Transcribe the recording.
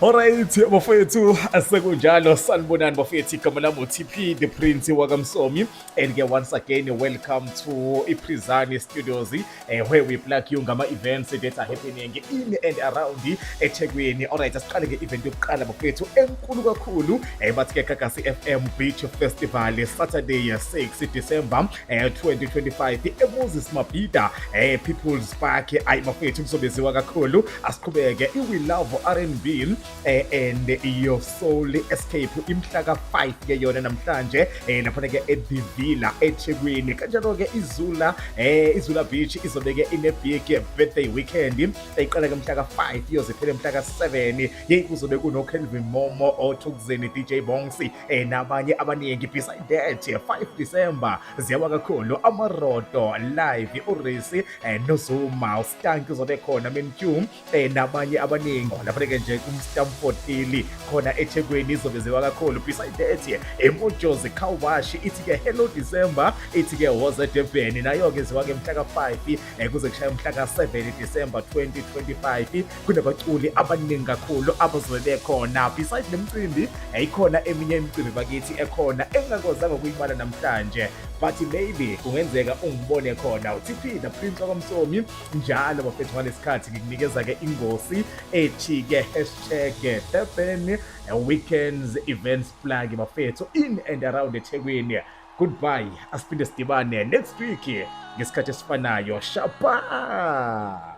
Alright bafowethu asekunjalo sanibonani bafowethu igama lami uTP the Prince wakamsomi and ke once again welcome to iPrizani Studios eh, where we plug you ngama events that are happening in and around eThekwini alright asiqale ke event yokuqala bafowethu enkulu kakhulu eh, bathi ke Gagasi FM Beach Festival Saturday 6 December eh 2025 emuzi simabhida eh people's park ayi bafethu kuzobeziwa kakhulu asiqhubeke i we love R&B eh and your soul escape imhla ka 5 ke yona namhlanje eh lapha ke eDivila eThekwini kanjalo ke izula eh izula beach izobeke ine big birthday weekend eqala ke mhla ka 5 iyoze phele mhla ka 7 hey kuzobe kuno Kelvin Momo othukuzeni DJ Bongsi eh, nabanye abaningi beside that 5 December ziyawa kakhulu amaroto live urisi eh, nozuma ustank uzobe khona mentu eh, nabanye abaningi lapha-ke nje kumstamford ili khona ethekwini izobe ziwa kakhulu beside that emojozi cowash ithi-ke hello December ithi-ke woze durban nayo-ke ziwa-ke mhla ka-5 eh, kuze kushaya umhla ka-7 December 2025 kunabaculi abaningi kakhulu abazobe bekhona beside le mcimbi yayikhona eminye imicimbi bakithi ekhona engingakwazanga ukuyibala namhlanje but maybe kungenzeka ungibone khona utp the prince wakwamsomi njalo bafethu ngalesikhathi ngikunikeza-ke ingosi ethi-ke hashtag durban weekends events plug bafethu in and around ethekwini Goodbye. Asiphinde sidibane next week ngesikhathi esifanayo. Shapa!